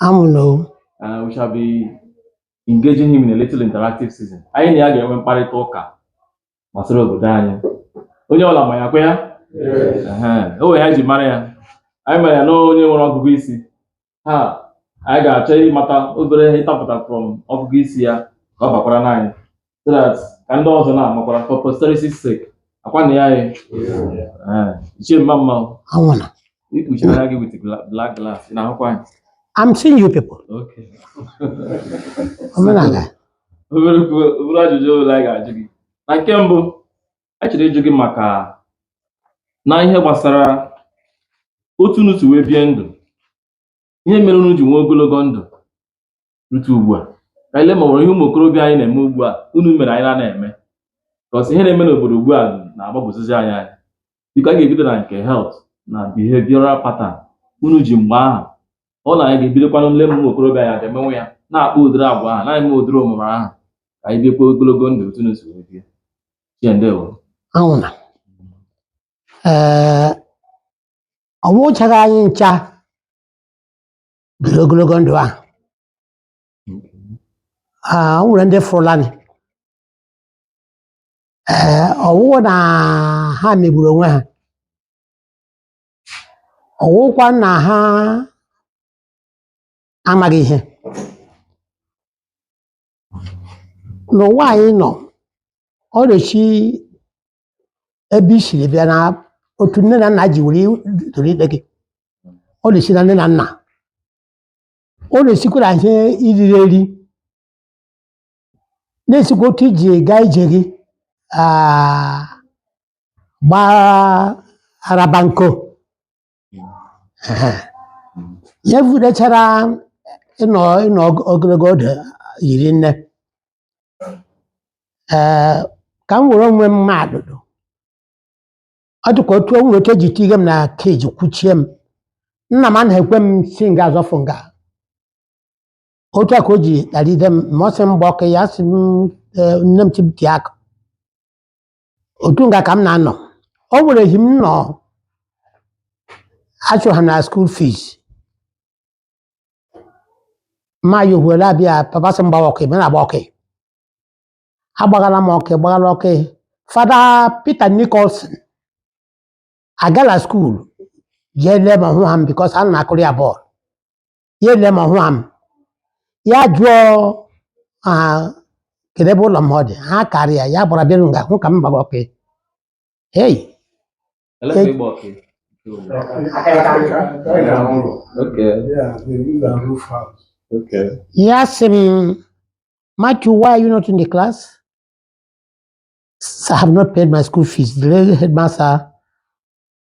amụna Uh, we shall be engaging him in a little interactive session. Anyị na ya ga-enwe mkparịta ụka gbasara obodo anyị. Onye ọla ma ya kwa ya? Ehe, O nwere ihe anyị ji mara ya. Anyị mara ya na onye nwere ọgụgụ isi. Ha, anyị ga-achọ ịmata obere ihe ịtapụta from ọgụgụ isi ya ka ọ bakwara n'anyị. so that ka ndị ọzọ na-amakwara for posterity sake akwa na ya anyị Eh, ichie mma mma o. ọ wụ na i kpuchiri anya gị with gla- black glass ị na-ahụkwa anyị I'm seeing you people okay omenala obere okwu- obere ajụjụ ole anyị ga-ajụ gị na nke mbụ anyị chọrọ ịjụ gị maka na ihe gbasara otu unu si wee bie ndụ ihe mere unu ji nwee ogologo ndụ rute ugbu a ka anyị lee ma o nwere ihe ụmụ okorobịa anyị na-eme ugbu a unu mere anyị na-anaghị eme because ihe na-eme n'obodo ugbu a na-agbagwozizi anyị anya biko anyị ga-ebido na nke health na behavioral pattern unu ji mgbe ahụ ọ na anyị ga-ebidokwanụ nle ma ụmụ okorobịa anyị ga-emenwu ya na-akpa ụdịrị agwa ahụ na-eme ụdịrị omume ahụ ka anyị biekwa ogologo ndụ otu unu si wee bie ichie ndewo ahụ na ee ọ wụchaghị anyị ncha biri ogologo ndụ ahụ Ah, o nwere ndị fụlanị ee ọ wụghị na ha megburu onwe ha ọ wụkwa na ha amaghị ihe n'ụwa anyị nọ ọ na-esi ebe i siri bịa na otu nne na nna ji were tolite gị ọ na-esi na nne na nna ọ na-esikwa na ihe i riri eri na-esikwa otu i ji gaa ije gị ah, gbaa arabanko Ehe. ya vudechara ịnọ ịnọ og- ogologo oge hiri nne ee ka m were onwe m ma atụ ọ dịkwa otu o nwere otu e ji tige m na cage kwuchie m nna m anaghị ekwe m si nga a zọfụ nga otu a ka o ji kparide m ma ọ sị m gba ọkụ ya sị m "Ee, nne m sị m tie akụ otu nga ka m na-anọ o nwere ehi m nọ achụ ha na school fees ma ya ohuwere abịa papa sị m gbawa ọkụ ebe m na-agba ọkụ agbagala m ọkụ gbagala ọkụ Father Peter Nicholson agala school jee lee m ahụha m because ana m akụrụ ya ball ya ele m ọ hụha m ya jụọ ma kedu ebe ụlọ m ọ dị ha karị ya ya gbara bịaru nga hụ ka m gbagha ọkị hei Eletrik ịgba ọkị. Okay, Yeah, they use a roof house. okay. ya sị m Matthew why are you not in the class "Sir, I have not paid my school fees the headmaster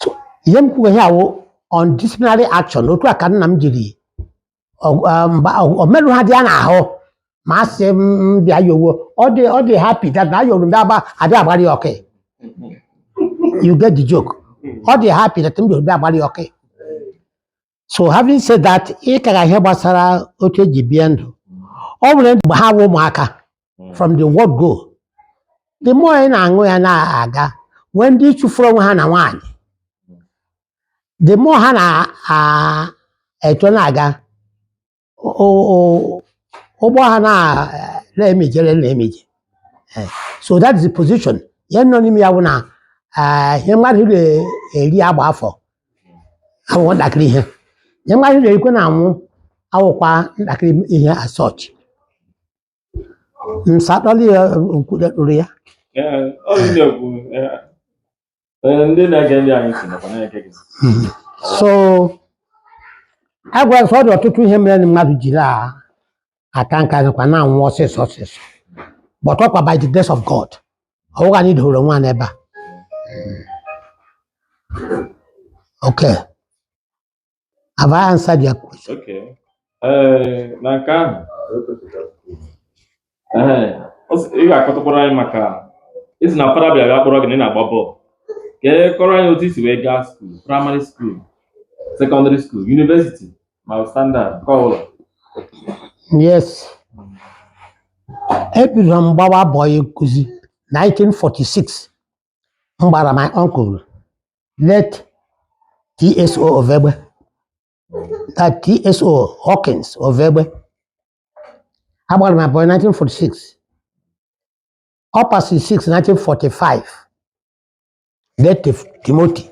so ihe m kwuo ihe a wụ on disciplinary action otu a ka nna m jiri ọ- ọ- mba ọ- omerụ ha dị ya n'ahụ ma a sị m m bịa yowo ọ dị ọ dị happy that na ayoro ndị agba adị agbara ya ọkị you get the joke ọ dị happy that m yoro ndị agbara ya ọkị so having said that ị kaga ihe gbasara otu e ji bie ndụ o nwere mgbe ha wụ ụmụaka from the word go the more ị na-aṅụ ya na-aga nwee ndị chụfuru onwe ha na nwaanyị the more ha na-eto na-aga ụgbọ ha na-emije na-emije eh, so that is the position ihe nọ n'ime ya wụ na eh, ihe mmadụ na-eri agba afọ awụkwọ ntakịrị ihe ihe mmadụ na-erikwe na-anwụ awụkwa ntakịrị ihe as such Mm, Sa akpali ya eh, nkwụda kpụrụ ya. Ee, ọ bụ ndị okwu. Ee, Ee, ndị na-ege ndị anyị si nakwa na-ege gị. Mm. So I guess ọ dị ọtụtụ ihe mere na mmadụ jiri a- aka nka nakwa na-anwụ ọsịsọ ọsịsọ but ọkwa by the grace of God ọ wụghị anyị dohoro onwe anyị ebe a. Okay. have I answered your question Okay. Ee, na nke ahụ Ee, ọ sị- ị ga-akọtụkwara anyị maka ị sị na fada bịara kpọrọ gị na ị na-agba bọọlụ ka ị kọọrọ anyị otu i si wee gaa skuul praịmarị skuul sekọndịrị skuul yunivesiti ma standard nke ọ bụla yes ebidoro m gbawa bọyị nkụzi 1946 m gbara my uncle late TSO of Egbe late TSO Hawkins of Egbe agbara m ya bọyị 1946 ọ pasị 6 1945 late Timothy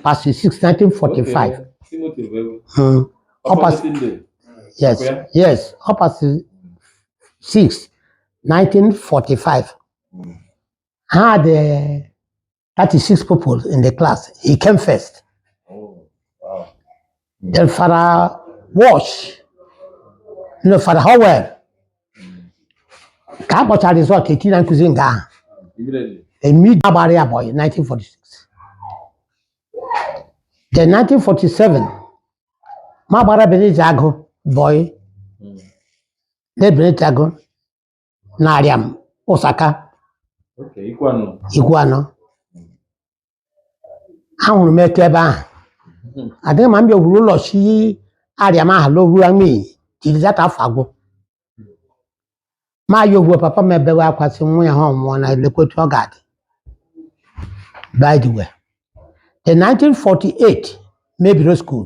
pasị 6 1945 Timothy bụ egwu. Hmm. Ọ pas- Ọkpọsị ndị. Yes, Okay. yes, ọ pasị 6 1945. had uh, 36 people in the class. He came first. Oh, wow. Then Father Walsh, you know, Father Howell, ka a kpọchara result e tinye nkụzi nga ahụ Immediately. m agbara ya bọyị 1946 then 1947 m agbara Bennett Agụ bọyị na Bennett Agụ na Ariam Usaka Okay, Ikwuano. Ikwuano ahụrụ m etu ebe ahụ adịghị mma m bịa gwuru ụlọ si Ariam aha lohu ya n'iyi till that afọ agwụ ma ya ogwuo papa m ebewe akwa sị nwa ya ha ọnwụọ na elekwa otu ọ ga-adị by the way the 1948 m ebido school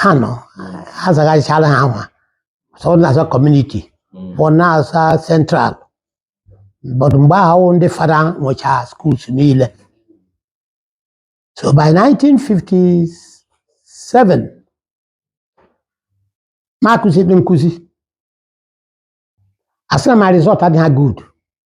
ha nọ ha zaghachichala aha so ọ na-aza community Mm. ọ na-aza central but mgbe ahụ ndị fada nwechaa schools niile so by 1957 m akwụsị the nkụzi a sị na my result adịghị good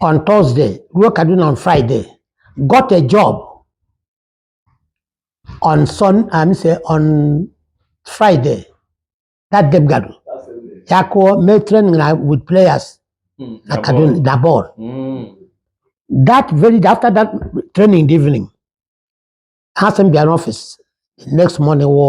on Thursday ruo Kaduna on Friday got a job on Sun I'm say on Friday that day m gadu ya ka m mee training na with players Mm, na na Kaduna bọọlụ. na ball Mm. that very after that training in the evening ha sị m bịa n'ọfịs the next morning wụ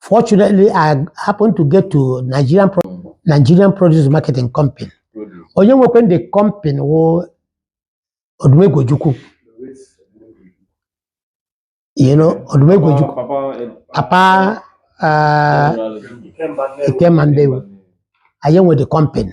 Fortunately, I happened to get to Nigerian Pro Nigerian Produce Marketing Company. Onye nwekwanụ the company wụ Odumegwu Ojukwu. You know, Odumegwu Ojukwu. Papa uh, Ikemba Nnewi. Ọ ya nwe the company.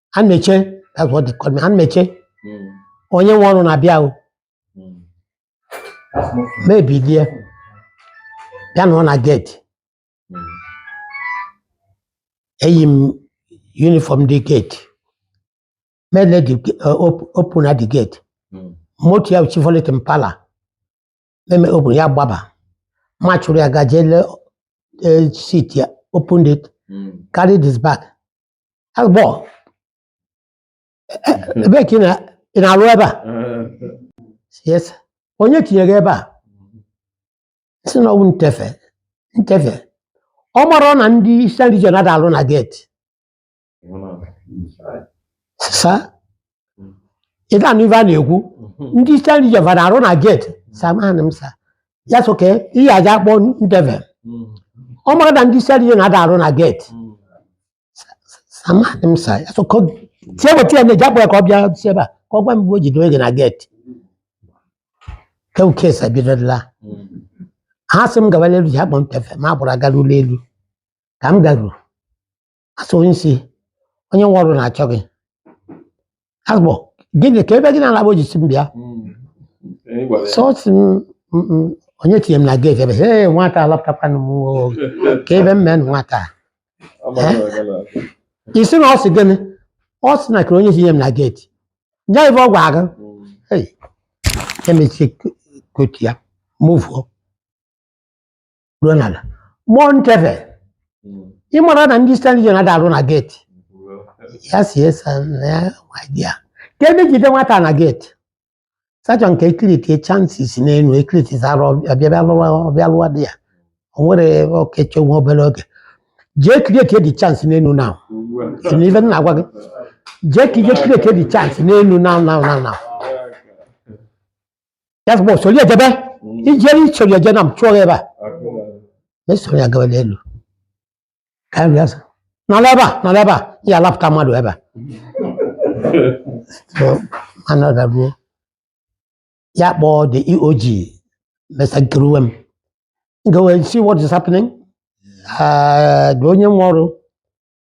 Anmeche that's what they call me Anmeche Mm. onye nwe ọrụ na-abịa o Mm. That's not food. m ebilie bịa nọ na gate Mm. eyi m uniform the gate mele the open na the gate Mm. moto ya Chevrolet Impala m emee open ya gbaba m achụrụ ya gaje le seat ya open it Mm. carried his bag How's the ball? Ebee ka ị na- ị na-arụ ebe a? Yes. sir. Onye tinyere gị ebe a? M sị na ọ wụ Ntefe. Ntefe. Ọ marọ na ndị Eastern Region ada alụ na gate. Sir ị ga-anụ ife a na-ekwu ndị Eastern Region va ada arụ na geti sị amanị m sa ya sị okay ya aja akpọ ntefe ọ mara na ndị Eastern Region ada arụ na geti sị amanị m sa ya sị okay tie weta ya na-eji akpọ ya ka ọ bịa si ebe a ka ọ gwa m mgbe o jidere gị na geti kewu case ebidola ha sị m gawala elu ji akpọ ntefe ma agbụrụ agara ụlọ elu ka m garuru asị onye isi onye nwe ọrụ na-achọ gị asị ọ bụ gịnị ka ebe gị na alaba o ji sị m bịa ọsọ ọ sị m "Mm, mm, onye tinye m na geeti ebe ee nwata alapụtakwanụ m oo." ka ebe m mee nwata a. ị sị na ọ sị gịnị ọ sị na kere onye tinye m na geeti nye ive ọ gwara gị emechi kotu ya mụvuo ruo n'ala mmụọ ntefe ị mara na ndị Eastern Region ada arụ na geeti ya sị yes sa na ya idea ka ebe jide nwata na geeti sị achọ m ka e create chances n'elu ekiriti zara ọbịa lụwa ọbịa lụwa dị ya o nwere ebe okeche nwa obere oge jee create the chance n'elu na na ife m na-agwa gị jee ka i je create the chance n'elu na na na na ya sị m osori ejebe ijere isori eje na m chụọ gị ebe a m esoro ya gawa n'elu ka nri azụ nọrọ ebe a nọrọ ebe a ya alapụta mmadụ ebe a So, anọda ruo ya kpọọ the EOG mesa nkeruwe m go and see what is happening Ah, the onye nwe ọrụ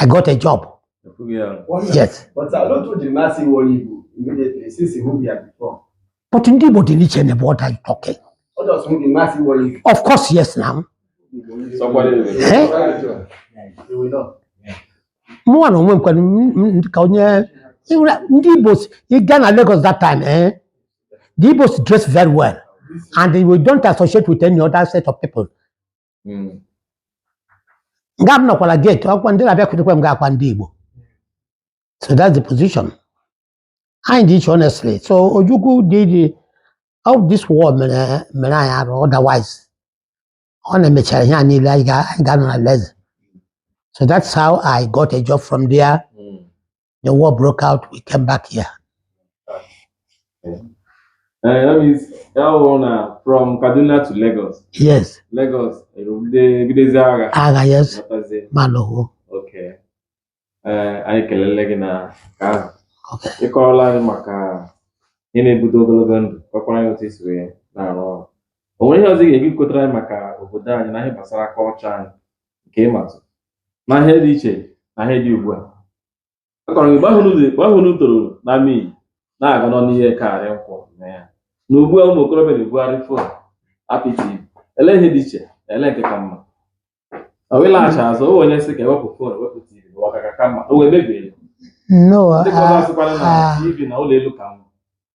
I got a job. Yes. But a lot of the mass in one Igbo immediately since he moved here before. But ndị Igbo dị n'iche na what are you talking? Ọ dị ọsọ ndị mass in one Igbo. Of course, yes now. Eh? Mụnwa na onwe m kwere m- m- ka onye ịhụla- ndị Igbo si- ị gaa na Lagos that time eh? The Igbos dress very well and we don't associate with any other set of people. Mm. nga m nọkwara geti ọkwa ndị na-abịakwutekwa m ga-akwa ndị igbo so that's the position anyị dị iche honestly so ojukwu dị dị of this war mere mere anyị arụ otherwise ọ na-emechara ihe a niile anyị ga- anyị ga-anọ na leze so that's how i got a job from there Mm. the war broke out we came back here Eh, that means ya wụrụ na from Kaduna to Lagos yes Lagos erugide bidozie agha agha yes batazie ma lụwo okay Eh, anyị kelele gị na nke ahụ okay ịkọrọla anyị maka ihe na-ebute ogologo ndụ kọkwara anyị otu esi wee na-arụ ọrụ o nwere ihe ọzọ ị ga-ekwu kọtara anyị maka obodo anyị na ihe gbasara kọlchọ anyị nke ị matụ na ihe dị iche na ihe dị ugbu a akọrọ gị mgbe ahụ unu dị- mgbe ahụ unu toro na mii na-aga nọ n'ihe karị nkwụ na ya na ugbu a ụmụ okorobịa na-ebugharị fon apị tv ele ihe dị iche olee nke ka mma ọ wee laghachi azụ o nwee onye sị ka ewepụ fon wepụ tv bụ ọ ka-aka mma o wee mebie ya. no ndị ka ọ ah, ga-asịkwara na ah, tv na ụlọ elu ka mma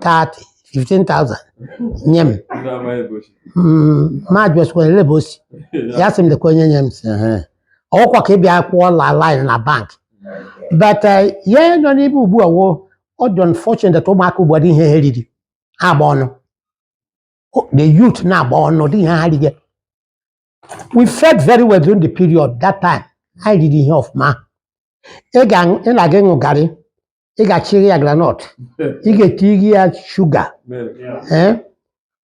30 15,000 nye m Mm, m ajụsịkwa elee ebe o si ya sị m lekwa onye nye m si "Ehe." ọkwa ka ị bịa kwụọ la line na bank but eh, ihe nọ n'ebe ugbu a wụ ọ dị unfortunate that ụmụaka ugbu a ọ dịghị ihe ha riri ha agba ọnụ O- the youth na-agba ọnụ ọ dịghị ihe ha riri we fed very well during the period that time anyị riri ihe ọfụma ị ga- ị na-aga ịṅụ garị ị ga-achịrị ya granọt ị ga-etiri ya shuga ee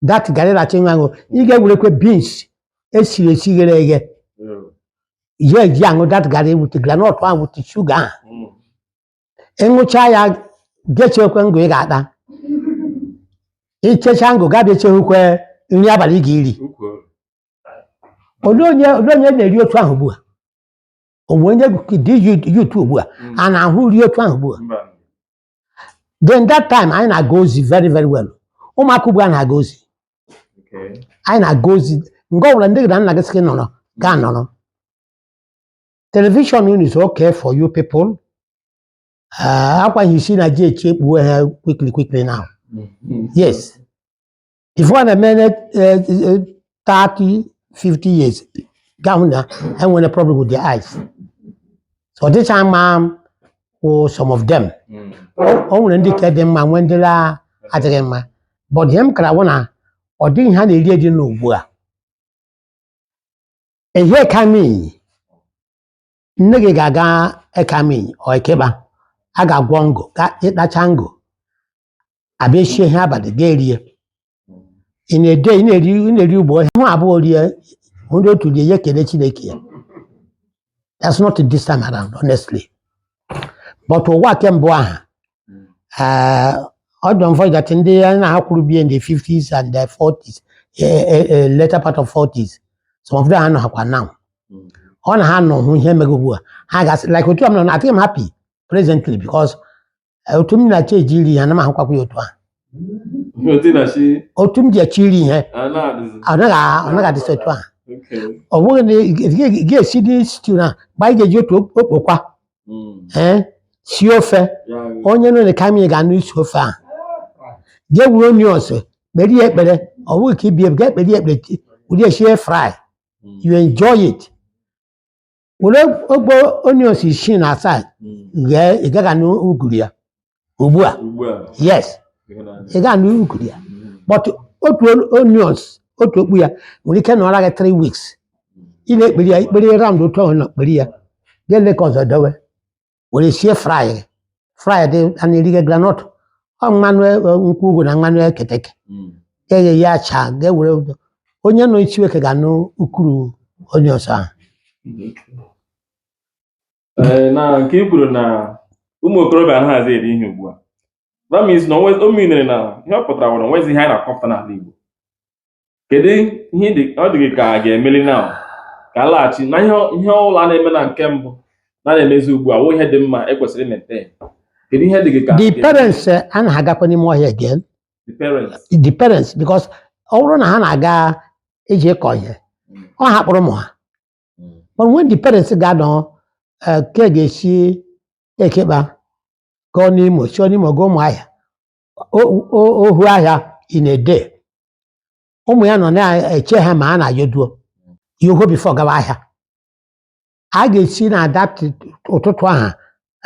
that garị na achịnwa aṅụ ị ga-ewerekwe beans e siri esi ghere eghe ya eji aṅụ that garị with granọt ahụ with shuga ahụ ị ṅụcha ya gị echekwe ngụ ị ga-ata i checha ngụ gị abịa echehukwe nri abalị ị ga-eri olee onye olee onye na-eri otu ahụ ugbu a o nwee onye dị youth ugbu a Mm. a na-ahụ iri otu ahụ ugbu a Mba. then that time anyị na-aga ozi very very well ụmụaka ugbu a na-aga ozi Okay. anyị na-aga ozi nga ọbụla nne gị na nna gị sị gị nọrọ gị anọrọ telivishọn unu is okay for you people Ah, ọkwa ihe isi na-eji echi ekpuwe ha quickly quickly now yes before ọ na-eme na eh, eh, 30 50 years gị ahụ na e nwere problem with their eyes so ọ dịcha mma wụ some of them Mm. o nwere ndị ka dị mma nwee ndị la adịghị mma but ihe m kara wụ na ọ dịghị ihe a na-eri eri n'ugbu a ehi ekamị nne gị ga-aga ekamị or eke ikpa a ga-agwọ ngụ ị tacha ngụ a bịa eshie ihe abalị gị erie in a day ị na-eri ị na-eri ugbo onye hụ abụọ rie ndị otu rie ya ekele chineke ya that's not this time around honestly but ụwa ke mgbe ahụ eh, ọ dị unfortunate that ndị anyị na ha kwụrụ bie in the 50s and the 40s eh, eh, eh, later part of 40s some of them anọghakwa now ọ na ha nọ hụ ihe mego ugbu a ha ga-asị like otu a m nọ na adịghị m happy presently because Eh, otu m na-achọ eji iri ihe anaghị ahụkwakwa ya otu ahụ Otu ị na-achọ otu m ji achọ iri ihe a na-adịzi. ọ naghị a- ọ naghị adịsị otu ahụ Okay. ọ bụghị na ị ga- ị ga-esi dị stew na mgbe anyị ga-eji otu okpokwa Mm. ee sie ofe Ya bụ. onye nọ n'ekamị ga-anụ isi ofe ahụ jee wuru onions kpere ya ekpere ọ bụghị ka ị bịa ga ekpere ya ekpere chi- were ya sie fry Mm. you enjoy it were ogbo onions isii na asaa ghee ị gaghị anụ uguru ya ugbu a yes ị gaghị anụ uguru ya but otu onions otu okpu ya nwere ike nọrọ gị 3 weeks ị na-ekperi ya ikperi round otu ahụ na-ekperi ya ga-ele ka ọzọ dowe were sie fry fry dị a na-erige granọt ọ mmanụ e- e- nkwụ ugwu na mmanụ eketeke Mm. eghe ya acha ga-ewere onye nọ Isinweke ga-anụ ukuru onions ahụ Ee, na nke i kwuru na ụmụ okorobịa anaghịzi eri ihe ugbu a that means na onwe- o minere na ihe ọ pụtara nwere onwezi ihe anyị na-akọpụta n'ala Igbo kedu ihe dị ọ dị gị ka a ga-emeli na ka a laghachi na ihe ihe ọbụla a na-eme na nke mbụ na na-emezi ugbu a wụ ihe dị mma ekwesịrị imete kedu ihe dị gị ka the parents eh, anaghị agakwa n'ime ọhịa again the parents the parents because ọ bụrụ na ha na-aga eje ịkọ ihe ha akpọrọ ụmụ ha Mm. but when the parents ga-anọ eh, ka e ga-esi Ekeikpa gụọ n'Imo sio n'Imo gụọ Ụmụahịa ohu ahịa in a day ụmụ ya nọ na-eche ha ma a na-ayoduo ya oho before gawa ahịa a ga-esi na that ụtụtụ ahụ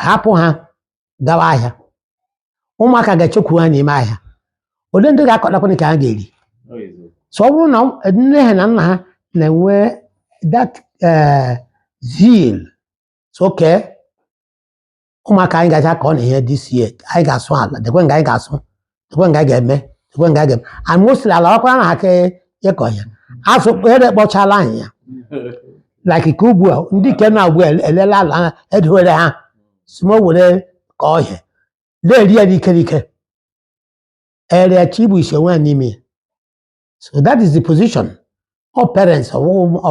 hapụ ha gawa ahịa ụmụaka ga-echekwu ha n'ime ahịa ole ndị ga-akọtakwanụ nke ha ga-eri so ọ bụrụ na nne ha na nna ha na-enwe that eh, zeal sị okay ụmụaka anyị gacha akọ ihe this year anyị ga-asụ ala dekwe nga anyị ga-asụ dekwe nga anyị ga-eme dekwe nga anyị ga-eme and mostly ala ọkwara na aka ịkọ ya asụ ere kpọchala anyị ya like ka ugbu a ndị ike na ugbu a elela ala ha edowere ha si ma o were ka ọhịa na-eri ya n'ike n'ike ere chi bụ ise nwa n'ime ya so that is the position ọ parents ọ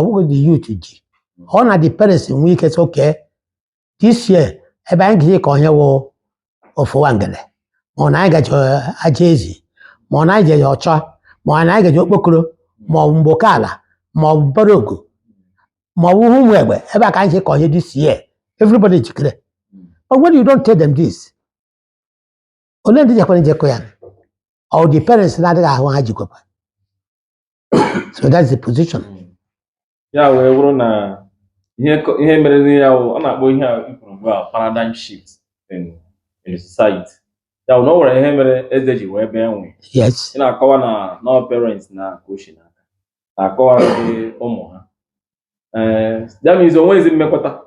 wụghị the youth ji ọ na the parents nwee ike sị okay this year ebe anyị ga-eje kọ ihe wụ ofu wangele ma ọ na anyị gaji aja ezi ma ọ na anyị jeji ọcha ma ọ na anyị gaji okpokoro ma ọ bụ mgboke ala ma ọ bụ mbara ogu ma ọ bụ ụmụ egbe ebe a ka anyị je kọ ihe this year everybody jikere but when you don't tell them this ole ndị jekwara eje kọ ya ọ the parents na-adịghị ahụ ha jikwekwa so that's the position ya wee bụrụ na ihe kọ- ihe mere n'ihe ya wụ ọ na-akpọ ihe a i kwuru ugbu a paradigm shift in in society ya wụ na o nwere ihe mere ede ji wee bee nwii yes ị na-akọwa na na parents na-coach na na-akọwa ndị ụmụ ha ee ya means onwezi mmekọta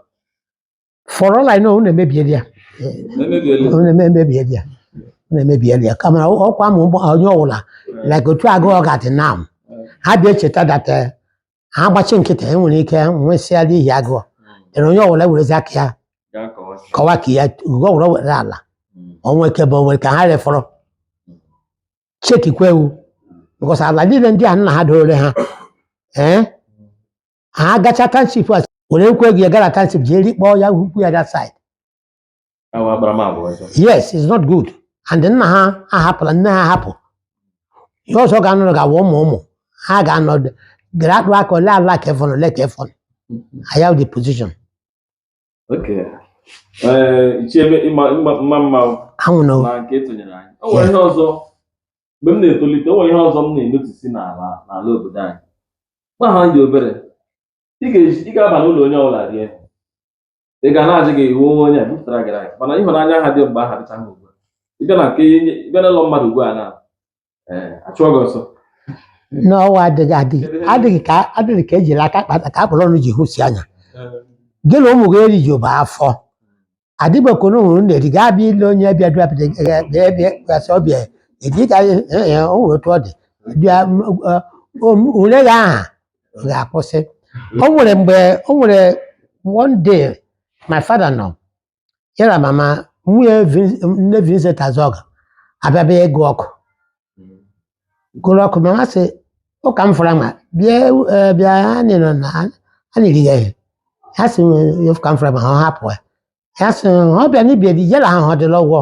for all I know unu emebiela ya Emebiela. unu eme- emebiela ya unu emebiela ya kama ọ- ọkwa ma ụgbọ- onye ọwụla like otu agụụ ga-adị now ha bịa cheta that eh, ha gbachi nkịtị e nwere ike nwụsịa n'ihi agụụ ere onye ọwụla werezi aka ya Gaa kọwa. kọwa ka ya ugo ọwụla nwere ala Mm. o nwere ike bụ o nwere ka ha refọrọ chekikwa ewu because ala niile ndị a nna ha doore ha ee ha agacha township a were nkwa ego ya gara township jee rikpọọ ya hukwu ya that side Ahụ agbara m agwa ọzọ. yes it's not good and nna ha ahapụla nne ha ahapụ ihe ọzọ ga-anọrọ ga-awụ ụmụ ụmụ ha ga-anọ gara akpụ aka ole ala ka efọn ole ka efọn ọ ya wụ the position Okay. Ee, ichie ebe ịma ịma mma mma o, anwụ na na nke ị tụnyeere anyị o nwere ihe ọzọ mgbe m na-etolite o nwere ihe ọzọ m na-enotice n'ala n'ala obodo anyị mgbe ahụ anyị dị obere ị ga-eji- ị ga-aba n'ụlọ onye ọbụla rie ị ga na-ajụ gị ị wụ onye onye a bupụtara gị nri mana ịhụnanya ahụ dị mgbe ahụ adịchahụ ugbu a. ị bịa na nke ị bịa n'ụlọ mmadụ ugbu a na ee achụọ gị ọsọ na ụwa adịghị adịghị adịghị ka adịghị ka ejiri aka kpata ka akpọrọ ọnụ ji hụsi anya gị na ụmụ gị eri ji ụba afọ adịbekọ na ụmụ na-eri gaa bịa ile onye bịa dụa bịa bịa bịa bịa gasị ọbịa edi ka ya- ya- ya, o nwere otu ọ dị bịa m, ọ, o, m, ule gị ahụ ga-akwụsị o nwere mgbe o nwere one day my father nọ ya na mama nwunye Vin- nne Vincent Azọga abịa bịa ịgụ ọkụ gụrụ ọkụ mama sị ụka m fụrụ ma bịa eh, bịa anyị nọ na anyị rie ihe ya sị "Eh, ụka m fụrụ ma ha hapụ ya ya sị ọ bịa n'ibie dị yela ahụ ọ dịla ụgwọ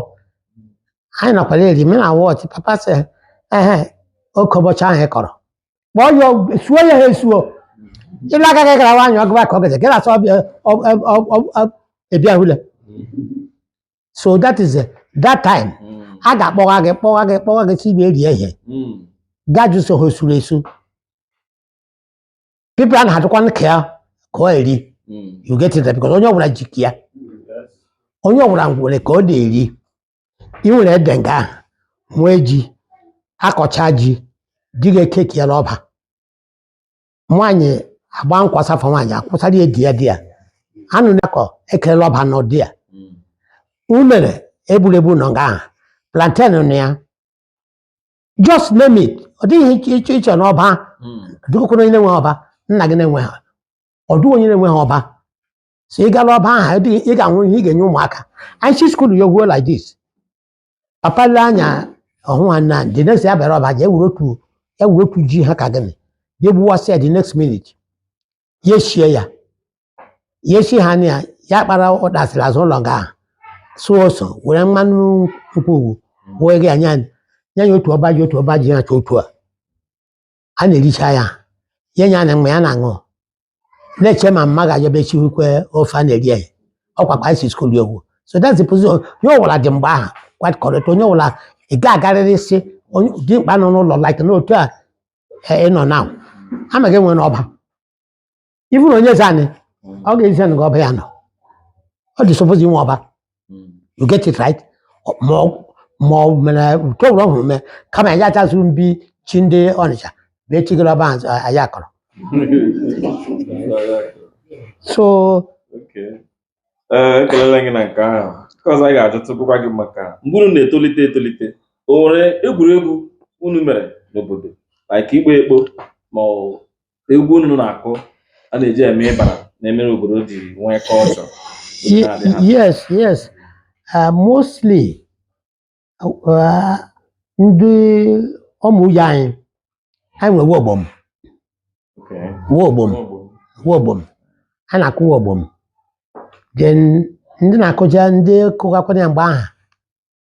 anyị nakwara eri m na wọchị papa sị ehe oke ụbọchị ahụ ị kọrọ kpọọ ya ọgwụ- suo ya ha esuo ịla aka gị gara nwaanyị ọgụba ka ọ gaje gị na-asọ ọbịa ọ- ọ- ọ- ọ- ọ- ịbịa hụle so that is it. that time a ga-akpọwa gị kpọwa gị kpọwa gị sị bịa rie ihe gị ajụ so ihe e suru esu people a na-adịkwa nka ya ka ọ eri you get it because onye ọbụla ji ka ya onye ọbụla nwere ka ọ na-eri i nwere ede nga ahụ nwee ji akọcha ji di gị ekeki ya n'ọba nwaanyị agba nkwa safa nwaanyị akwụsara ya ede ya di ya anụ na-akọ ekerela ọba nọ there unere egburu egbu nọ nga ahụ plantain nọ ya just name it ọ dịghị iche iche iche n'ọba dịkwụkwụrụ onye na-enwe ọba nna gị na-enwehụ ọ dịghị onye na-enwehụ ọba so ị gara ọba ahụ dị ị ga-ahụ ihe ị ga-enye ụmụaka anyị si skuul ya gwuo like this papa le anya ọ hụ nwanne anyị the next ya bịara ọba ji ewuru otu ewuru otu ji ha ka gịnị ya egbuwasị ya the next minute ya eshie ya ya eshi ha na ya ya kpara ụdasịrị azụ ụlọ nga ahụ sụọ ose were mmanụ nkwụ owu wee gị anya anya ya otu ọba ji otu ọba ji ya chọ otu a a na-ericha ya ya nye ya na mgbe ya na-aṅụ na-eche ma mma ga-abịa bịa chiwukwe ofe a na-eri ya ọkwa kpa e si skuul ya ogwu so that's the position onye ọwụla dị mgbe ahụ quite correct onye ọwụla ị ga-agarịrị ị sị dimkpa nọ n'ụlọ like n'otu a eh, ị nọ now a ma gị nwere ọba even na onye eze anyị Mm. ọ ga-ezi gị nga ọba ya nọ ọ dị suppose inwe ọba Mm. you get it right Ọ- ma ọ- ma ọ mere nke ọbụla ọhụrụ mee kama ya achazụ mbi chi ndị Ọnịcha bee chigoro ọba ahụ anyị akọrọ so Okay. Ee, ekelela gị na nke ahụ nke ọzọ anyị ga-ajụtụkwa gị maka mgbe unu na-etolite etolite o nwere egwuregwu unu mere n'obodo like ịgba ekpo ma ọ bụ egwu unu na-akụ a na-eji eme ịbara na-emere obodo ji nwee culture Ye- yes yes uh, mostly uh, ndị Umuoye anyị anyị nwere nwa ogbom nwa ogbom nwa ogbom a na-akụ nwa ogbom then ndị na-akụja ndị kụgakwanụ ya mgbe aha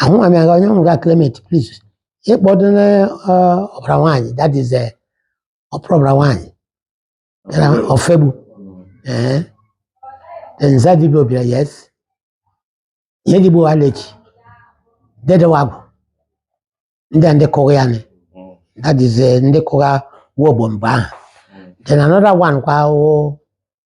ahụ ma mịa onye nwụrụ ga Clement please ịkpọdo na eh, ọbara nwaanyị that is eh, ọpụrụ ọbara nwaanyị daa Ofegbu ee then Nzadibe Obila yes Ihedigbo Alechi Dede Nwagwụ ndị a ndị kụrụ ya nị that is eh, ndị kụrụ nwa ogbom mgbe ahụ then another one kwa wụ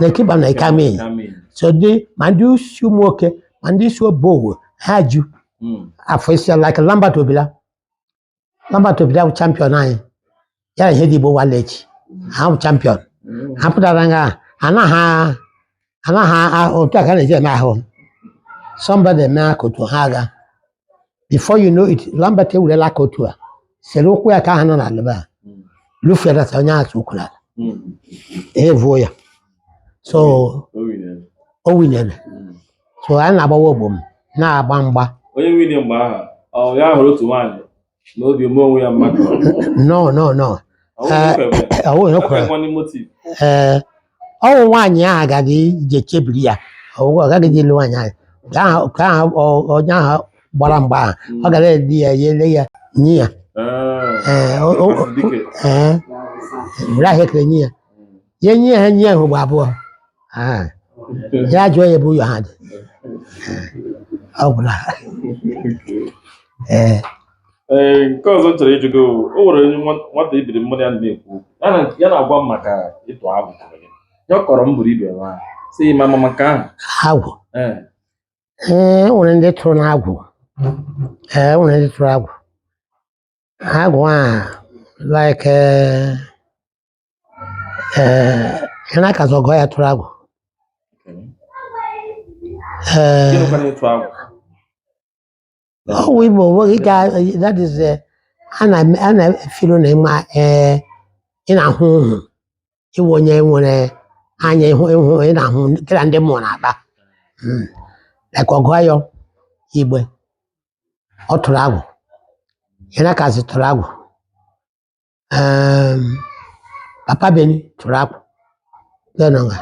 Lekịba na Ikamin so dị ma ndị si Umuoke ma ndị si Obowo ha ju afọ isi like Lambert Obila Lambert Obila bụ champion anyị ya na Ihedigbo Walechi ha bụ champion ha pụtara nga anaghị anaghị otu aka na-eji eme ahụ somebody mee aka otu a ha aga before you know it Lambert ewurela aka otu a sere ụkwụ ya ka ha nọ n'ala ebe a lufere na onye ahụ ụkwụ n'ala evuo ya so o winere so anyị na-agba nwa ogbom na-agba mgba onye wini mgbe ahụ ọ ya hụrụ otu nwaanyị n'obi ome onwe ya mmadụ no no no ọ wụ ya kwere ee ọ wụ nwaanyị ahụ agaghị je chebiri ya ọ wụ ọ gaghị ịlụ nwaanyị ahụ nke ahụ nke ahụ ọ- onye ahụ gbara mgba ahụ ọ gara edi ya ya ele ya nye ya ee o- o- ee were ahịa ekele nye ya ya nye ha nye ahụ ugbo abụọ Ah, ya jụọ ya ebe ụyọ ha dị ọ gwụla ee ee nke ọzọ m chọrọ ịjụ gị bụ, o nwere onye nwa- nwata ibiri mmadụ ya na-ekwu ya na- ya na-agwa m maka ịtụ agwụ kọrọ gị. ya ọ kọrọ m buru ibe nwa sị ịma mama maka agwụ ee ee o nwere ndị tụrụ n'agwụ ee o nwere ndị tụrụ agwụ agwụ a like eh, ee ya na-aka sị ọgọ ya tụrụ agwụ ee Gịnị kwana ịtụ agwụ? ọ wụ Igbo nweghị ike a- that is eh, a na- a na-efilo na ị ma ee ị na-ahụ ọhụ ị wụ onye nwere anya ịhụ ịhụ ị na-ahụ kịra ndị mmụọ na-akpa Mm. like ọgọ ya Igbe ọ tụrụ agwụ ya na-aka sị tụrụ agwụ um Papa Beni tụrụ agwụ ya nọ nga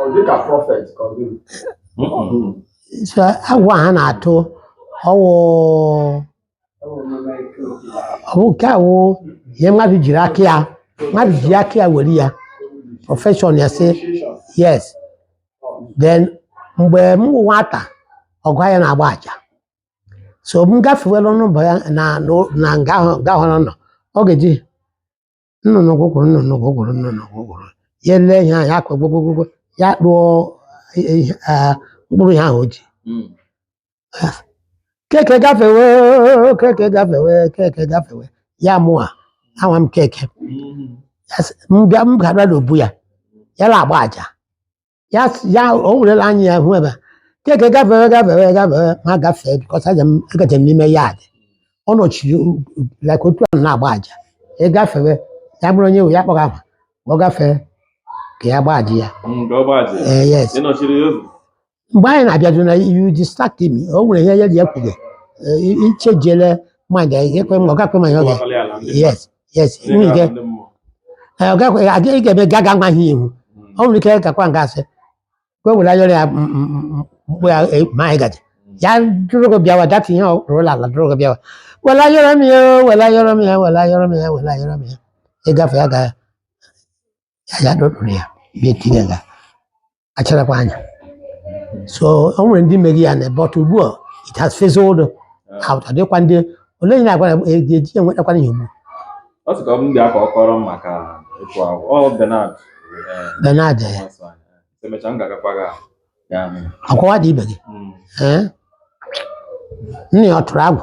Ọ dị ka prophet ka ọ gịnị? so agwụ a ha na-atụ ọ wụ ọ wụ nke a wụ ihe mmadụ jiri aka ya mmadụ ji aka ya were ya profession ya sị yes then mgbe m wụ nwata ọgọ ya na-agba aja so m gafewela ọnụ obu ya na na- na nga ahụ nga ahụ ọ nọ ọ ga-eji nnụnụ gwụgwụrụ nnụnụ gwụgwụrụ nnụnụ gwụgwụrụ ya ele ya ya akwa gwogwogwogwo ya kpụọ ihe- eh, mkpụrụ ihe ahụ o ji Mm. keke gafewe keke gafewe keke gafewe ya mụa anwa m keke Mm. Ya sị, m bịa m ga-abịa n'obu ya ya na-agba aja ya s- ya o werela anya ya hụ ebe a. keke gafewe gafewe gafewe ma gafee because aja m agaje m n'ime ya adị ọ nọchiri u- u- like otu a na-agba aja ị gafewe ya bụrụ onye we ya kpọga ahụ ọ gafee ka ya gbaa aja ya nke ọ gbazi ee yes ị nọchiri ya ụzọ mgbe anyị na-abịado na you distract me o nwere ihe ya dị ya kwuge ichejele mind ya ekwe m ọ gakwe ma ya ọ ga kọwakọrọ ya ala ndị yes yes Ndị nwunye ga-ahụ gị ndị mmụọ. ee, ọ gakwa- a ga- ị ga-eme ga ga nwa ihe ihu Mm. ọ nwere ike gakwa nga a sị ka o were ayọrọ ya m- m- m- mkpụ ya e- ma anyị ga-eji ya duru gị bịawa data ihe ọ rụrụla ala duru gị bịawa were ayọrọ m ya o, were ayọrọ m ya were ayọrọ m ya were ayọrọ m ya ị gafee ya ga ya ya duru ya bịa tinye nga acharakwa anya so o nwere ndị mere ya na but ugbu a it has fizzled out adịkwa ndị ole onye na-agwa na e- ga-eji ya enwetakwana ya ugbu a. Ọ sị ka ọ bụ ndị aka ọkọrọ m maka ịkwa ahụ. Ọ Bernard. eh, Bernard eh, nwa sọ anyị. Emechaa m ga-agakwa gị ahụ. Ya ahụ. akwawa dị ibe gị Mm. ee nna ya ọ tụrụ agwụ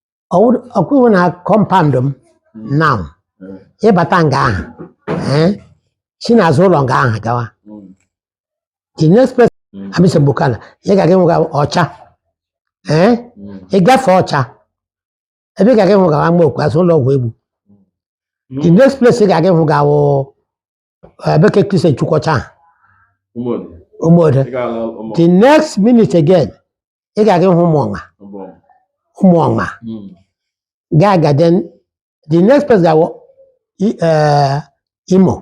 ọkwụwo na compound m now ịbata nga ahụ ee, si n'azụ ụlọ nga ahụ gawa the next place amisa bukala ị ga-aga ịhụ ga-awụ Ọcha ee ị gafee Ọcha ebe ị ga-aga ịhụ ga-awụ ama okwu azụ ụlọ Ọgwụegbu the next place ị ga-aga ịhụ ga-awụ eh, be ke Christian Chukwuocha ahụ, Ụmụọdị. Ụmụode Ị ga-ala ụmụ. the next minute again ị ga-aga ịhụ Ụmụọma Ụmụ. Ụmụọma Mm. gaa ga then the next place ga-awụ i- eh, Imo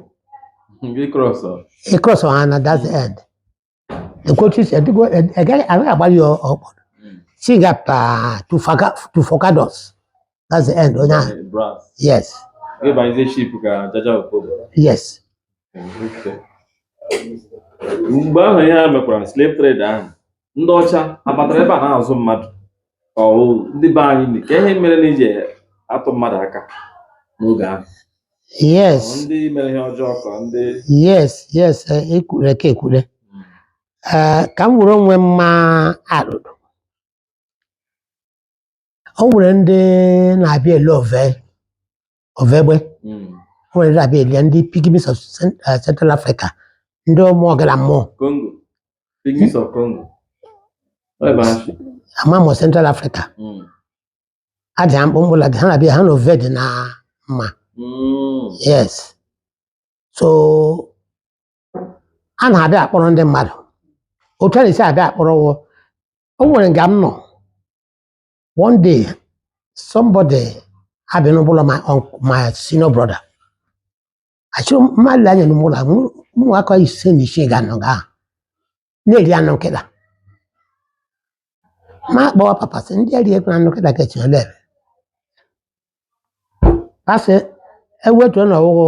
Gị cross ọ. ị cross ha na that end ekwetu isi adịgo agaghị agaghị agbalị ya ọkpọ si ga up to Forcados that's the end onye ahụ Brass. yes Gị bayize ship ka Jaja Opobo. yes Mgbe ahụ ihe a mekwara slave trade ahụ, ndị ọcha abatara ebe a na-azụ mmadụ. ọ wụ ndị be anyị ni- ka ihe mere na iji atụ mmadụ aka n'oge ahụ Ọ yes ndị mere ihe ọjọọ ka ndị yes yes eh, ekwure ka ekwure Eh, ka m were onwe m maa alụlụ o nwere ndị na-abịa ele ove ovegbe Mm. o nwere ndị na-abịa ele ndị pygmies of Cent- eh, central africa ndị ụmụ ọkara mmụọ Congo. Pygmies of Congo. Ọ ebe ahụ si. ama mụ central africa Mm. adị ha mkpụmkpụ la ha na-abịa ha na ove dị na mma Mm. yes so a na-abịa akpọrọ ndị mmadụ otu a na-esi abịa akpọrọ wụ o nwere nga m nọ One day, somebody had been over my uncle, my senior brother. I saw my line in the mall. I'm not going to say anything. I'm not going to anụ nkịta ma kpọwa papa sị ndị eri ekwe anụ nkịta ka echele ebe asị ewetuo na ọwụwụ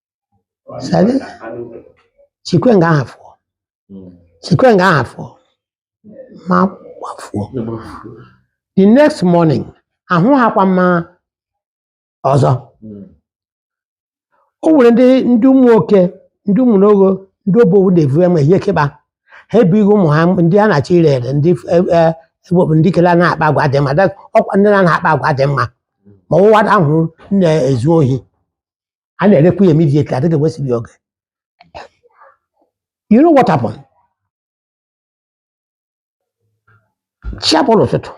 Sabi? Chikwe nga ahụ fụọ. Chikwe nga ahụ fụọ. Ma gbafuo. The next morning, ahụhakwa ma ọzọ. O nwere ndị ndị Ụmụoke, ndị Ụmụlogho, ndị Obowo na-evu enwe ihe keba. Ha ebughị ụmụ ha ndị a na-achọ ire ere, ndị e- e- ewepụ ndị kele na-akpa agwa dị mma. That- Ọkwa ndị na-akpa agwa dị mma. Ma ọ wụ nwa ahụ na-ezu ohi. a na-erekwu ya immediately adịghị ewesiri ya oge you know what happened chi abọrọ ụtụtụ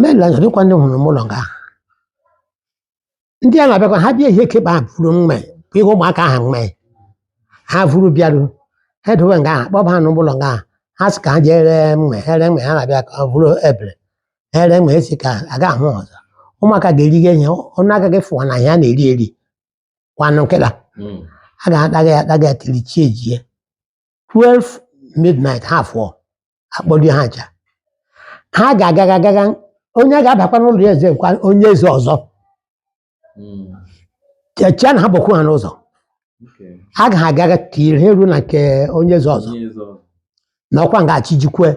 mela dịkwa ndị hụrụ m ụlọ nga ahụ ndị a na-abịakwa ha bịa ihe keba ha vuru mma ihe ụmụaka ahụ mme ha vuru bịaru ha edowe nga ahụ kpọba ha n'ụlọ nga ahụ ha sị ka ha jee ree mma ha ree mma ha na-abịa ka ọ bụrụ ebere ere ma esi ka a ga ahụ ọzọ ụmụaka ga-eri gị ihe ọnụ agaghị fụwa na ihe a na-eri eri kwanụ nkịta Mm. a ga-akpaga ya akpaga ya tiri chi ejie 12 midnight ha fụọ akpọlie ha ncha ha ga-agaga agaga onye ga-abakwa n'ụlọ onye eze kwa onye eze ọzọ Mm. chechia na ha bụkwu ha n'ụzọ Okay. ha ga ha agaga tiri ha eru na nke onye eze ọzọ Onye eze ọzọ. na ọkwa nga chi jikwe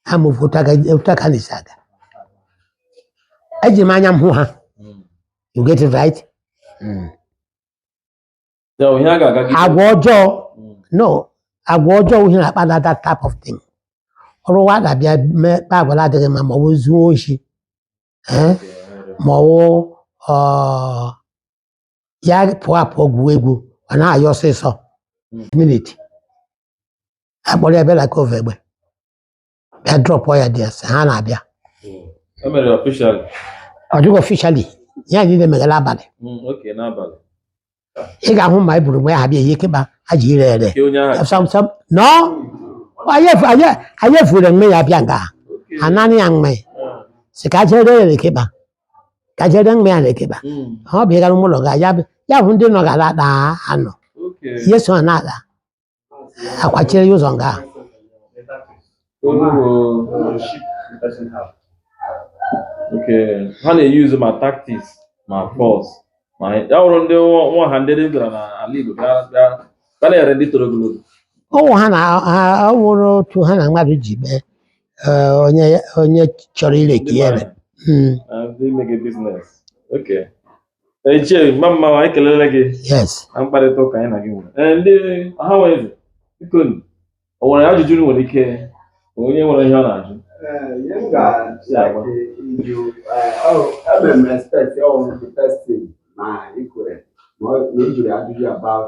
ha ma ofu otu aga- otu aka na-esi aga eji m anya m hụ ha Mm. you get it right Ya bụ ihe a ga-aga gị. agwa ọjọọ Mm. no agwa ọjọọ ihe na-akpata that type of thing ọ wụ nwata bịa mee kpa agwa na-adịghị mma ma ọ bụ zuo oshi ee ma ọ wụ ọ ya pụọ apụọ gwuo egwu ọ na-ayọ ọsịsọ minit a kpọrọ ya bịa na nke Ovegbe bịa drọpụ ya dị ese ha na-abịa E mere official ọ dịghị officially ya niile megara abalị oke n'abalị. ị ga-ahụ ma eburu mgbe ha bịa ihe keba ha ji ire ere Nke onye ahụ. sam sam no anyị efu- anyị- anyị efure mme ya bịa nga Okay. ha naanị ya mme Ah. si ka jere ya rekeba ka jere mme ya rekeba Mm. ọ bụ ịgara ụmụlọ ga ya bụ- ya bụ ndị nọ gara ada anọ Okay. ihe so ha na-ada akwachiri ya ụzọ nga ha na-eyuzu ma tactics ma force ma ya wụrụ ndị nwa ha ndị bịara n'ala Igbo ga na-ere ndị toro ogologo ọ wụ ha na ọ wụrụ otu ha na mmadụ ji mee eh, onye chọrọ ireki ya ere hmm. Ichie mma mma anyị kelele gị yes na mkparịta ụka anyị na gị nwere ee ndị ọha nwe eze biko nụ, o nwere ajụjụ unu nwere ike onye nwere ihe ọ na-ajụ Ebe m respect ọ wụ the first thing na ikwere ma ọ- na ị jụrụ ajụjụ about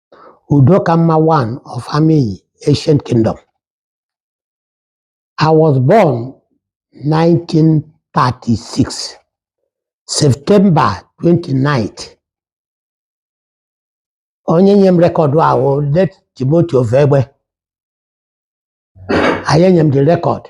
Udokamma one of Amiyi Ancient Kingdom. I was born 1936, September 29th. Onye nye m record a wụ late Timothy Ovegbe. Ọ ya nye m the record.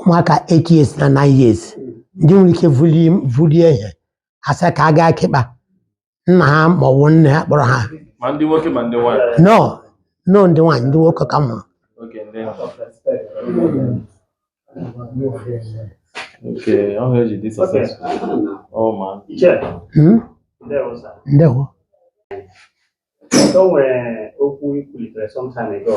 ụmụaka 8 years na 9 years ndị nwere ike vulie vulie ihe a sị ka a gaa kịkpa nna ha ma ọ bụ nne ha kpọrọ ha ma ndị nwoke ma ndị nwaanyị no no ndị nwaanyị ndị nwoke ka mma okay ndị oke ọhụ eji dị successful ọ ma Hmm? ndewo o nwere okwu i kwulitere sometime ago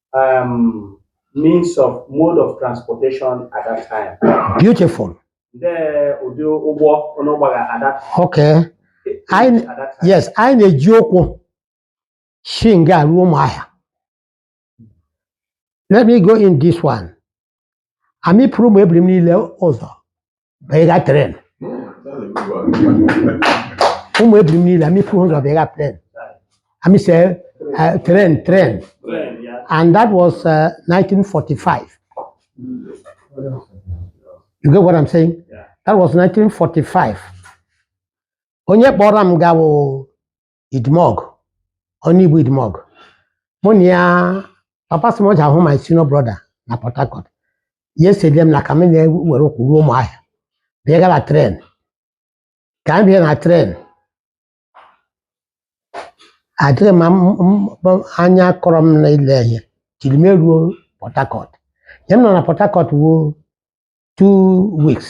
um, means of mode of transportation at that time. Beautiful. The ụdị ụgbọ unu gbara at that Okay. Anyị- at that time. Yes, anyị na-eji ụkwụ si nga ruo ụmụahịa. Let me go in this one. Amị pụrụ ụmụ ebiri m niile ụzọ banye ga train ụmụ ebiri m niile amị pụrụ ụzọ banye ga train amị se eh, train train and that was uh, 1945 you get what i'm saying that was 1945 onye kpọrọ m gaa wụ idmog onye bụ idmog mụ na ya papa sị mụ jee hụ my senior brother na port harcourt ya esede m na ka m na-ewere ụkwụ ruo ụmụahịa bịa gara train ka m bịa na train adịghị ma m- m- m- anya kọrọ m na ile ihe till m eruo port harcourt ya m nọ na port harcourt wuo two weeks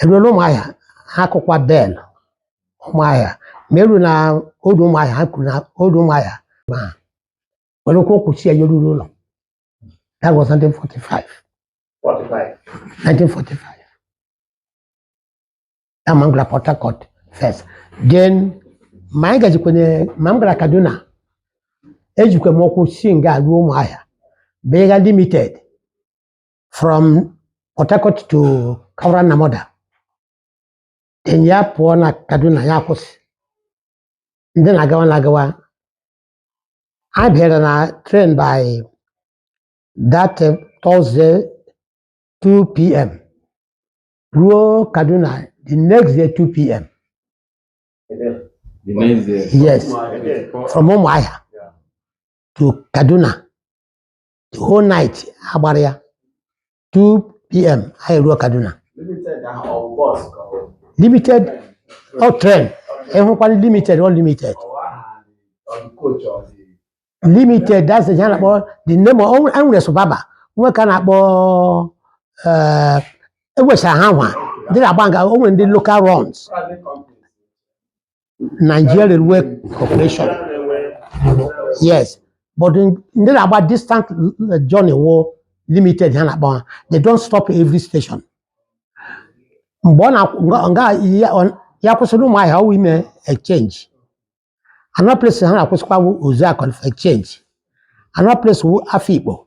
erue n'ụmụahịa ha kụkwa bell ụmụahịa ma eru na ọdụ ụmụahịa ha kwụrụ na ọdụ ụmụahịa ma were ụkwụ kwụchi ya yeruru ụlọ that was 1945 45. 1945 ya ma m gara port harcourt first then ma anyị gajikwenye ma m gara kaduna ejikwe m ụkwụ si nga ruo ụmụahịa bega limited from Port Harcourt to Kaura Namoda then ya pụọ na Kaduna ya kwụsị ndị na-agawa na-agawa a bara na train by that uh, Thursday 2 p.m. ruo Kaduna the next day 2 p.m. The next day. Yes, from Umuahia to Kaduna. the whole night a gbara ya 2 pm anyị ruo kaduna Limited ahụ ọ bụ bus ka ọ bụ? limited ọ train ị hụkwara limited ọ limited Ọ bụ aha dị- ọ bụ coach ọ dị? limited that's the na-akpọ the name of e nwere suburban nwee nke a na-akpọ eh, ewesa ha nwa ndị na-agba nga o nwere ndị local runs Private companies. Nigeria Railway Corporation yes but in- ndị na-agba distant uh, journey wụ limited ha na-akpọ ha they don't stop every station mgbe ọ na-akwụ- nga- nga ya- ọ- ya kwụsị n'Ụmụahịa ọ wụ ime exchange another place ha na-akwụsịkwa wụ Uzuakoli exchange another place wụ Afikpo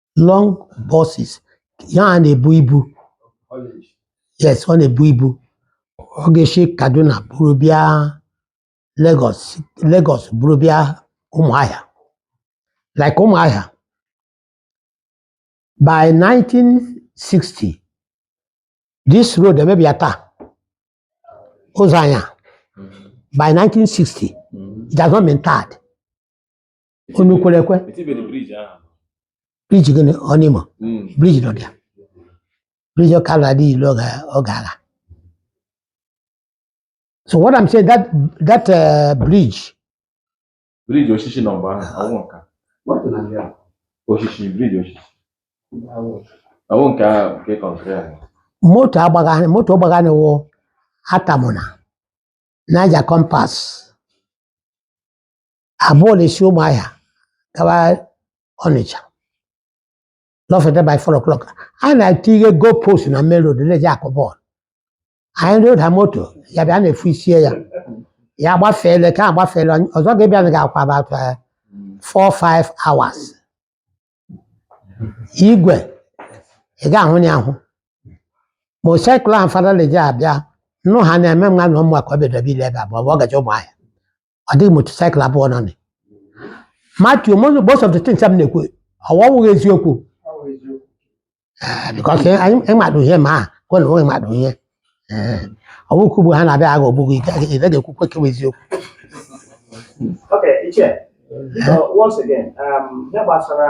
long buses ya a na-ebu ibu yes ọ na-ebu ibu ọ ga-esi Kaduna buru bịa Lagos Lagos buru bịa Ụmụahịa like Ụmụahịa by 1960 this road emebe ya tar ụzọ anyị a by 1960 it has not been tarred unu kwere ekwe Etibere bridge ahụ. bridge gịnị Ọnụimo Mm. bridge nọ dị ya bridge ọka ala adịghị ilu ọ ga- ọ ga-ala so what i'm saying that that uh, bridge Bridge osisi nọ mgbe ahụ. Awụ nka. Osisi bridge osisi. Awụ nke ahụ nke concrete ahụ. moto agbagharị moto ọgbagharị wụ atamụna Niger Compass abụọ na-esi ụmụahịa gawa ọnịcha lọfeta by 4 o'clock anyị na-etie goal post na main road na-eji akụ bọọlụ anyị nụrụ ụda moto ya bịa anyị efosie ya ya gbafeele nke a gbafeele ọzọ ga-ebịa na ga-akwa about eh, four five hours igwe ị ga-ahụ ya ahụ motorcycle ahụ fada na-eji abịa nnu ha na-eme nwa na ụmụ ka ọ bịadebe ile ebe abụọ ọ gaje ụmụahịa ọ dịghị motorcycle abụọ nọ na ya. Matthew most most of the things m na-ekwu ọ wụghị eziokwu Eh, because ihe- anyị ịmadụ ihe ma a kwe na onwe ịmadụ ihe Eh, ọ bụghị ka ugbu a ha na-abịa agha ogbugbu ị gaghị ị gaghị ekwukwe nke bụ eziokwu Okay, Ichie. So once again, um, ihe gbasara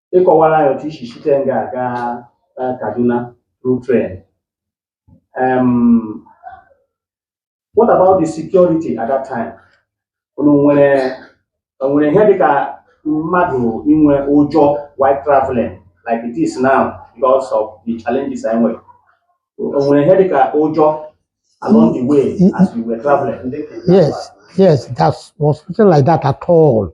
ị kọwaara anyị otu i si site nga a gaa eh, Kaduna through train. Um, what about the security at that time? Unu nwere o nwere ihe dịka mmadụ inwe ụjọ while traveling like it is now because of the challenges anyị nwere. O nwere ihe dịka ụjọ along the way as we were traveling. Yes, yes, there was nothing like that at all.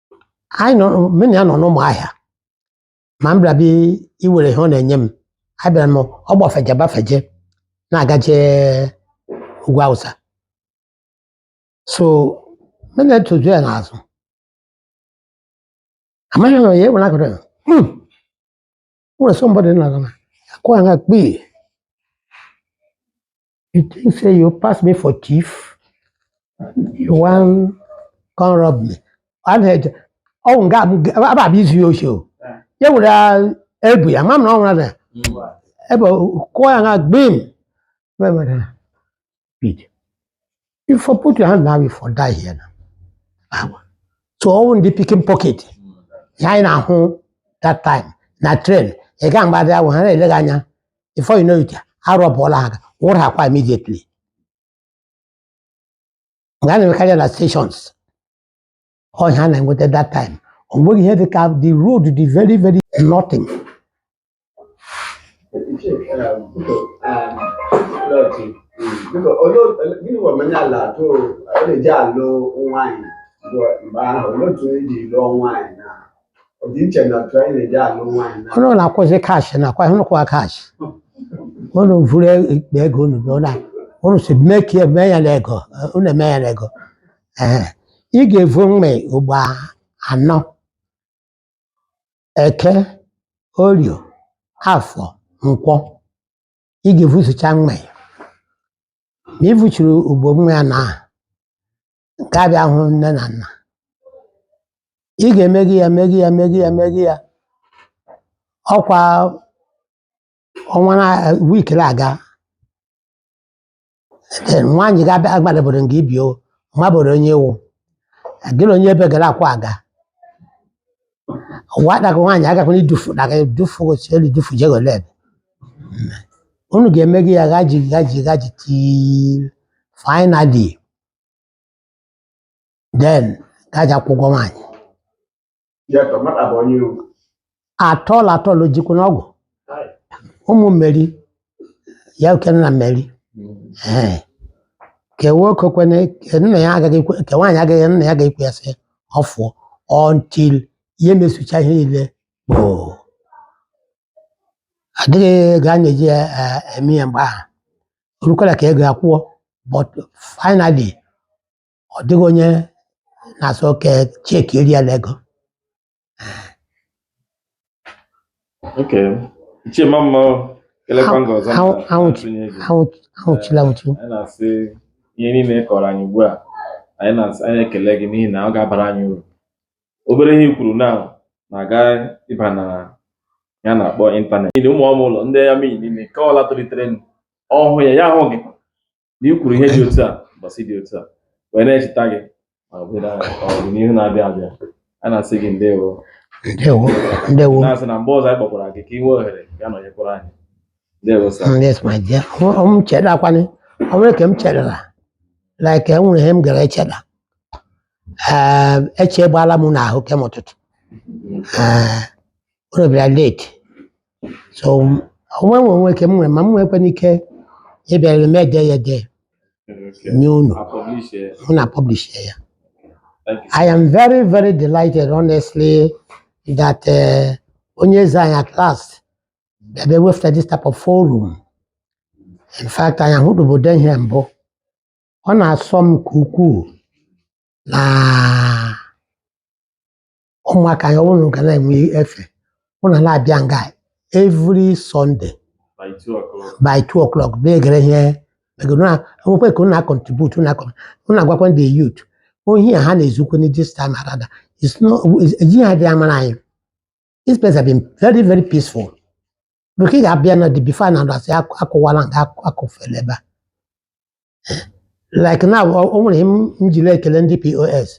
anyị nọ mụ na ya nọ n'ụmụahịa ma m bịara bịa iwere ihe ọ na-enye m abịara m ọ gbafeje gbafeje na-agaje ugwu awụsa so mụ na-etoju ya n'azụ amaghị m ya ewere akụrụ ya "Hmm, o nwere somebody n'azụ na-akụ ya nga kpii You think say you pass me for thief? You wan come rob me? Ana eje ọ wụ nga m ga- aba abịa izu ya oshi o. Ya were ah, ebu ya, ma m na ọ nwụrụ na ebe ọ- kụọ ya nga gbim. Ebe mere ha, Pete, You for put your hand now, you for die here now. So ọ wụ ndị picking pocket. Ya anyị na-ahụ that time na train ị ga-agbada ahụ ha na-ele gị anya before you know it a rọbụọla ha gị wụrụ ha kwa immediately. Nga a na-emekarị ya na stations ọ ihe a na-enweta that time o nweghị ihe dị ka the road dị very very nothing gịnị bụ omenala otu a na-eji alụ nwaanyị mgbe ahụ olee otu eji lụọ nwaanyị na ọdịiche na otu anyị na-eji alụ nwaanyị na unu na-akwụzi kash nakwa unu kwụwa kash unu vuru igbe ego unu bịa na unu si mee ka eme ya na ego unu eme ya na ego Ehe. ị ga-evu mmịị ugbo anọ Eke, Orio, Afọ, Nkwọ. Ị ga-evusucha mmịị ya. Ma i vuchiri ugbo mmịị ya na aha, nke a bịa hụ nne na nna. Ị ga-emeghe ya meghe ya meghe ya meghe ya. Ọkwa ọnwa na week na-aga Ee, nwaanyị ga-abịa agbadaboro nga i bi ọ maboro onye wụ gị na onye ebe gara akwa aga ụwa daga nwaanyị agakwana idufu daga idufu osi elu idufu jegole ebe unu ga-emegi ya gaji gaji gaji till finally then gaji akwụ ụgwọ nwaanyị ya tọ nwata bụ onye iwu atọl atọl jikwu n'ọgwụ ụmụ mmeri ya okene na mmeri Ee. ke nwoke kwene ka nna ya agaghị ekwe ke nwaanyị agaghị nna ya ga-ekwe ya sị ọ fụọ until ya emesucha ihe niile gboo adịghị ego a na-eji ya, eh, eme ya mgbe ahụ orukwala ka ego a kwụọ but finally ọ dịghị onye na-asị oke cheki eri ya n'ego Okay. Ichie ma mma o. Kelekwa m gị ọzọ Anwụ- maka anwụ- ntụnye gị. Anwụ- anwụchula anwụchu Anyị na-asị ihe niile ị kọrọ anyị ugbu a anyị na-asị anyị ekele gị n'ihi na ọ ga-abara anyị uru obere ihe i kwuru na na-aga ịba n'ihe a na-akpọ ịntanetị n'ihi ụmụ ọmụ ụlọ ndị ya meyi niile nke ọla tolitere nụ, ọ hụ ya ya ahụ gị na i kwuru ihe dị otu a mbọsị dị otu a wee na-echeta gị ma ọ bụrụ na ọdịnihu na-abịa abịa a na-asị gị ndewo ndewo ndewo na-asị na mgbe ọzọ anyị kpọkwara gị ka ị nwee ohere ya nọnyekwara anyị ndewo sir Mm, yes my dear Ọ- ọ m chedakwanị o nwere ka m chedara like e nwere ihe m gara echeda Ee, eche gbala m n'ahụ kem ụtụtụ Ee, unu bịara late so o nwe o nwe ke m nwere ma m nwekwanị ike ịbịara m ede ya ede nye unu unu a publish ya I am very very delighted honestly that eh, onye eze anyị at last bịaba wefụta this type of forum in fact anyị ahụdụbe ụdị ihe mbụ ọ na-asọ m nke ukwuu na ụmụaka anyị ụnụ ga na-enwe efe ụnụ na-abịa nga every Sunday By two o'clock bịa gere ihe ego na enwekwa ka ụnụ a contribute ụnụ agwakwa ndị youth ohi a ha na-ezukwe na this time around ejighị ha dị amara anyị this place have been very very peaceful Because ị ga-abịa na the before na asị akụwala nga akụfele ebe a like na o nwere ihe m jiri ekele ndị POS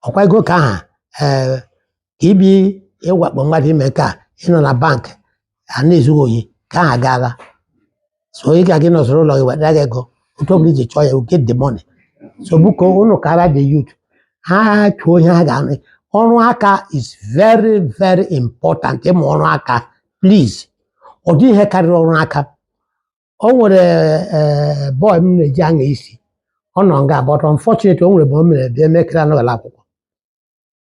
ọkwa ego ka aha ee ka ibi ịwakpo mmadụ ime ka ị nọ na bank a na-ezu gị ohi ka aha gaala so ị ga gị nọsoro ụlọ gị wetara gị ego otu ọbụla i ji chọọ ya you get the money so biko unu kara the youth ha chọọ ihe ha ga-amụ ọrụ aka is very very important ịmụ ọrụ aka please ọ dị ihe karịrị ọrụ aka o nwere ee boy m na-eji anya isi ọ nọ nga but unfortunately o nwere ebe o mere bịa emekere anọghịla akwụkwọ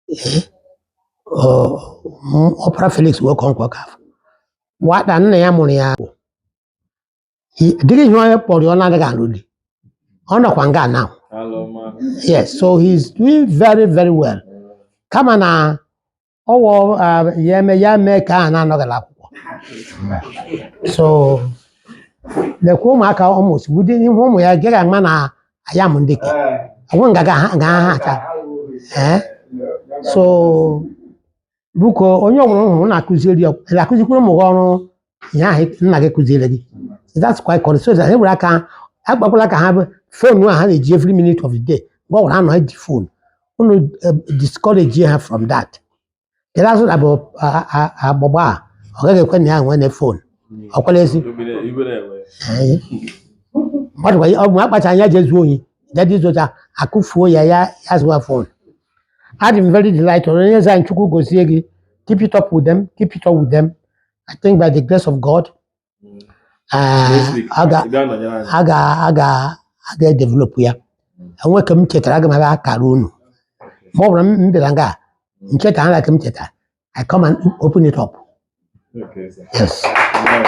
Ee, ọ- m- ọpara Felix wee kọọ nkwa ka afọ nwata nna ya mụrụ ya bụ i- dịghị ihe onye kpọrọ ya ọ na-adịghị alụ di ọ nọkwa nga now yes so he's doing very very well kama na ọwọ ya eme ya mee ka a na-anọghịla akwụkwọ so lekwa ụmụaka almost ụdị ihe ụmụ ya gaghị ama na I am ndị ke ọgwụ nga ga ha ga ha aka ee so biko onye ọbụla m hụrụ na-akụziri ya ị ga-akụzikwuru ụmụ gị ọrụ ihe ahụ nna gị kụziere gị that's quite correct so that e were aka agbakwala ka ha bụ phone a ha na-eji every minute of the day mgbe ọbụla a nọ ji phone unu eh, discourage ha from that Kedu azụ na bụ a- a- agbụgba a ọ gaghị ekwe na ya nwee na phone ọ kwere ezi Ee. Ọ dịkwa ya- ọ bụ akpacha anya ji ezu ohi jadi zucha akụfuo ya ya ya zụwa phone adị m very delighted onye eze anyị Chukwu gozie gị keep it up with them keep it up with them I think by the grace of God Mm. Ah, Next week, a ga- ị bịa nọnyere anyị. a ga a ga a ga edevelop ya, e nwee nke m chetara aga m abịa akara unu ma ọ bụrụ na m bịara nga a, m cheta ara ka m cheta I come and open it up Okay, sir. yes Alright.